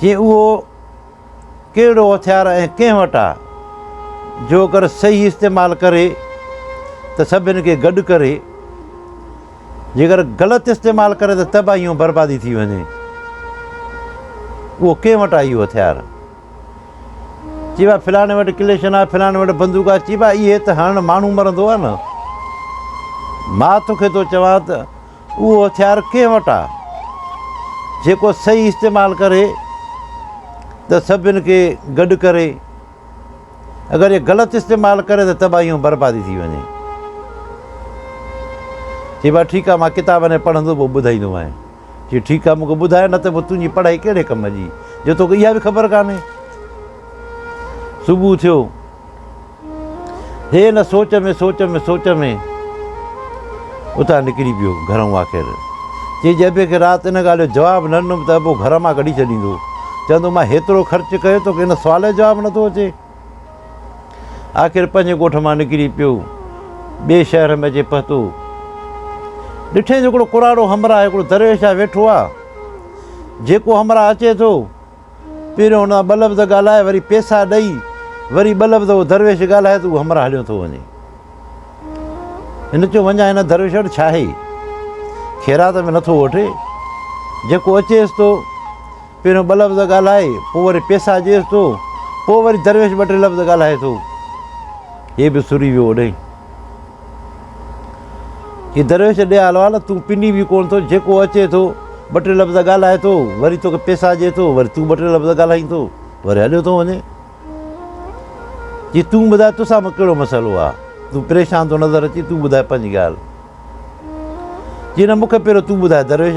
جي اهو ڪهڙو هٿيار ۽ ڪنهن وٽ آ؟ جو اگر صحيح استعمال ڪري ته سڀن کي گڏ ڪري، جيڪر غلط استعمال ڪري ته تباهي ۽ بربادي ٿي وڃي. اهو ڪنهن وٽ آ اهو هٿيار؟ چئبو آ فلاڻي وٽ ڪليشن آ، فلاڻي وٽ بندوق آ، چئبو آ اهي ته هڻ ماڻهو مرندو آ نه. مان توکي ٿو چوان ته اهو هٿيار ڪنهن وٽ آ جيڪو صحيح استعمال ڪري ته سڀن کي گڏ ڪري اگر اهي غلط استعمال ڪري ته تباهي ۽ بربادي ٿي وڃي چئبو آ ٺيڪ آ مان ڪتاب ۾ پڙهندو پوء ٻڌائيندو مانء چي ٺيڪ آ مونکي ٻڌاء نه ته پوء تنهنجي پڙهائي ڪهڙي ڪم جي جو توکي اها به خبر ڪانهي صبح ٿيو هي ان سوچ ۾ سوچ ۾ سوچ ۾ اتان نڪري پيو گهرئون آخر چي جي ابي کي رات ان ڳالهه جو جواب نه ڏنم ته ابو گهر مان ڪڍي ڇڏيندو چوندو مان هيترو خرچ ڪيو توکي ان سوال جو جواب نٿو اچي آخر پنهنجي ڳوٺ مان نڪري پيو ٻئي شهر ۾ اچي پهتو ڏٺين جو هڪڙو ڪراڙو همراهه هڪڙو درويش آ ويٺو آ جيڪو همراهه اچي ٿو پهريون هن سان ٻه لفظ ڳالهائي وري پيسا ڏئي وري ٻه لفظ اهو درويش ڳالهائي ته هو همراهه هليو ٿو وڃي. هن چيو وڃان هن درويش وٽ ڇا هي خيرات ۾ نٿو وٺي جيڪو اچيس ٿو پهريون ٻه لفظ ڳالهائي پوء وري پيسا ڏيس ٿو پوء وري درويش ٻه ٽي لفظ ڳالهائي ٿو. هي به سري ويو اوڏهين. هي درويش ڏي آل والا تون پني به ڪونه ٿو جيڪو اچي ٿو ٻه ٽي لفظ ڳالهائي ٿو وري توکي پيسا ڏي ٿو وري تون ٻه ٽي لفظ ڳالهائين ٿو وري هليو ٿو وڃي جي تون ٻڌاء تو سان ڪهڙو مسئلو آ تون پريشان ٿو نظر اچي تون ٻڌاء پنهنجي ڳالهه جي نه مون کي پهريو تون ٻڌاء درويش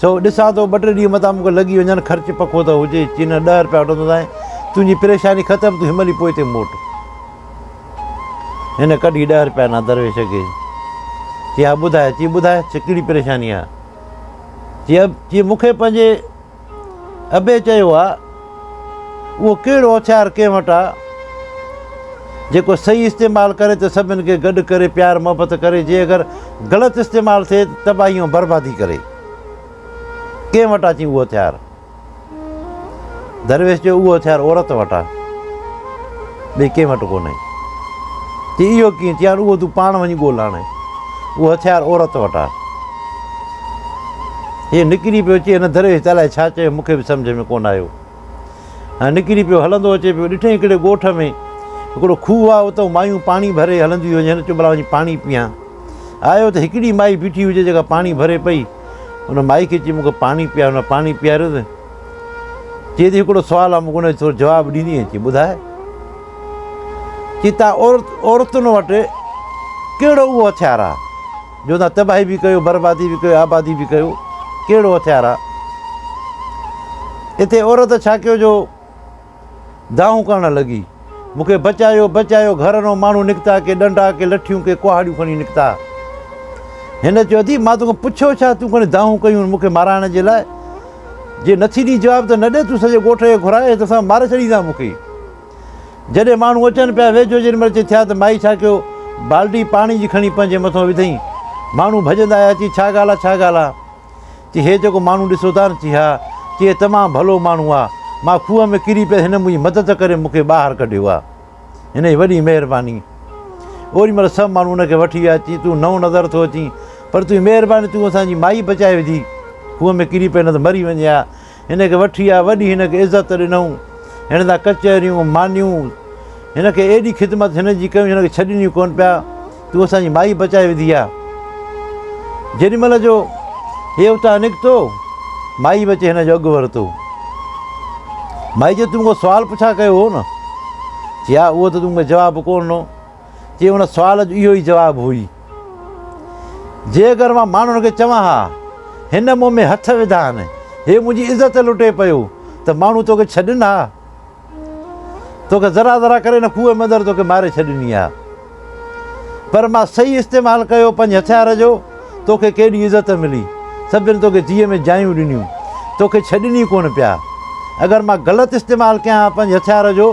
سو ڏسان ٿو ٻه ٽي ڏينهن متان مون کي لڳي وڃن خرچ پکو ته هجي چينه ڏهه رپيا وٺندوسانء تنهنجي پريشاني ختم تون هيمهل ئي پوء هتي موٽ هن ڪڍي ڏهه رپيا ڏنا درويش کي چي ها ٻڌاء چي ٻڌاء چي ڪهڙي پريشاني آهي چي چي مون کي پنهنجي ابي چيو آ، اهو ڪهڙو هٿيار ڪنهن وٽ آ، جيڪو صحيح استعمال ڪري ته سڀن کي گڏ ڪري پيار محبت ڪري، جي اگر غلط استعمال ٿئي ته تباهي ۽ بربادي ڪري. ڪنهن وٽ آ چين اهو هٿيار؟ درويش چيو، اهو هٿيار عورت وٽ آ، ٻئي ڪنهن وٽ ڪونهي. چين اهو ڪيئن؟ چيائون، اهو تون پاڻ وڃي ڳول آڻ، اهو هٿيار عورت وٽ آ. هيء نڪري پيو اچي هن دريء جي تالائي ڇا چيو مون کي به سمجهه ۾ ڪونه آيو ۽ نڪري پيو هلندو اچي پيو ڏٺئي هڪڙي ڳوٺ ۾ هڪڙو کوهه آهي اتئون مايون پاڻي ڀري هلنديون هيون هن چيو ڀلا وڃي پاڻي پيئان آيو ته هڪڙي مائي بيٺي هجي جيڪا پاڻي ڀري پئي ان مائي کي چي مون کي پاڻي پيار هن پاڻي پياريو ته چي ٿي هڪڙو سوال آهي مون کي ان جو جواب ڏيندي چي ٻڌاء چي تان عورت عورتن وٽ ڪهڙو اهو هٿيار آهي جو نه تباهي به ڪيو بربادي به ڪيو آبادي به ڪيو ڪهڙو هٿيار آ اتي عورت ڇا ڪيو جو دانهون ڪرڻ لڳي مونکي بچايو بچايو گهر نو ماڻهو نڪتا ڪي ڏنڊا ڪي لٺيون ڪي ڪهاڙيون کڻي نڪتا هن چيو اٿي مان توکان پڇيو ڇا تون کڻي دانهون ڪيون مونکي مارائڻ جي لاء جي نٿي ڏي جواب ته نه ڏي تون سڄي ڳوٺ کي گهرائي ته سان ماري ڇڏيندا مونکي جڏهن ماڻهو اچن پيا، ويجهو جن مرچ ٿيا ته مائي ڇا ڪيو، بالٽي پاڻي جي کڻي پنهنجي مٿو وڌئين. ماڻهو ڀڄندا آيا، چي ڇا ڳالهه آ، ڇا ڳالهه آ؟ چي هي جيڪو ماڻهو ڏسو ٿا نه، چي ها، چي هي تمام ڀلو ماڻهو آ، مان کوهه ۾ ڪري پيس، هن منهنجي مدد ڪري مون کي ٻاهر ڪڍيو آ، هن جي وڏي مهرباني. اوري مهل سڀ ماڻهو هن کي وٺي ويا، چي تون نئون نظر ٿو اچين، پر تنهنجي مهرباني تون اسان جي مائي بچائي وڌي، کوهه ۾ ڪري پئي نه ته مري وڃي ها. هن کي وٺي آء وڏي هن کي عزت ڏنئون. هن سان ڪچهريون، مانيون. هن کي ايڏي خدمت هن جي ڪيون جو هن کي ڇڏين ئي ڪونه پيا. تون اسان جي مائي بچائي وڌي آ. جيڏي مهل جو هي اتان نڪتو، مائي به اچي هن جو اڳ ورتو. مائي چيو تون مون کان سوال پڇا ڪيو هو نه؟ چي ها اهو ته تون مون کي جواب ڪونه ڏنو. جي ان سوال جو اهو ئي جواب هئي. جي اگر مان ماڻهن کي چوان ها هن مون ۾ هٿ وڌائن، هي منهنجي عزت لٽي پيو ته ماڻهو توکي ڇڏين ها؟ توکي ذرا ذرا ڪري ان کوهه ۾ اندر توکي ماري ڇڏيني ها. پر مان صحيح استعمال ڪيو پنهنجي هٿيار جو. توکي ڪيڏي عزت ملي، سڀن توکي جيء ۾ جايون ڏنيون، توکي ڇڏين ئي ڪونه پيا. اگر مان غلط استعمال ڪيان ها پنهنجي هٿيار جو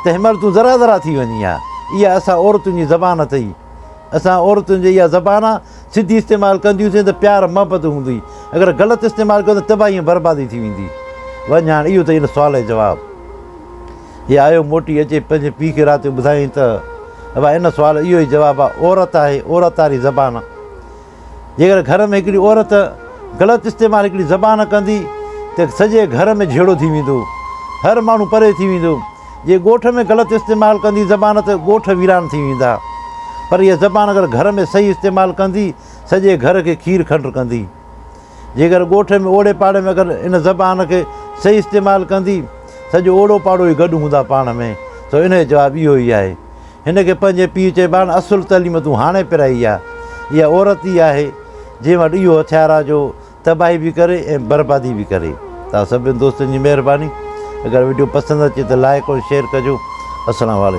ته هن مهل تون ذرا ذرا ٿي وڃين ها. اها اسان عورتن جي زبان اٿئي. اسان عورتن جي اها زبان آ، سڌي استعمال ڪنديون سين ته پيار محبت هوندي، اگر غلط استعمال ڪيون ته تباهي ۽ بربادي ٿي ويندي. وڃ هاڻ اهو ته هن سوال جو جواب. هي آيو موٽي اچي پنهنجي پيء کي رات جو ٻڌايائين ته ابا ان سوال اهو ئي جواب آ عورت آهي عورت واري زبان آ جيڪڏهن گهر ۾ هڪڙي عورت غلط استعمال هڪڙي زبان ڪندي ته سڄي گهر ۾ جهيڙو ٿي ويندو هر ماڻهو پري ٿي ويندو جي ڳوٺ ۾ غلط استعمال ڪندي زبان ته ڳوٺ ويران ٿي ويندا پر هيء زبان اگر گهر ۾ صحيح استعمال ڪندي سڄي گهر کي کير کنڊ ڪندي. جيڪر ڳوٺ ۾ اوڙي پاڙي ۾ اگر ان زبان کي صحيح استعمال ڪندي سڄو اوڙو پاڙو ئي گڏ هوندا پاڻ ۾ سو ان جو جواب اهو ئي آهي. هن کي پنهنجي پيء چئبان اصل تعليم تون هاڻي پرائي آ. اها عورت ئي آهي جنهن وٽ اهو هٿيار آ جو تباهي به ڪري ۽ بربادي به ڪري. توهان سڀني دوستن جي مهرباني. اگر وڊيو پسند اچي ته لائيڪ ۽ شيئر ڪجو. السلام عليڪم.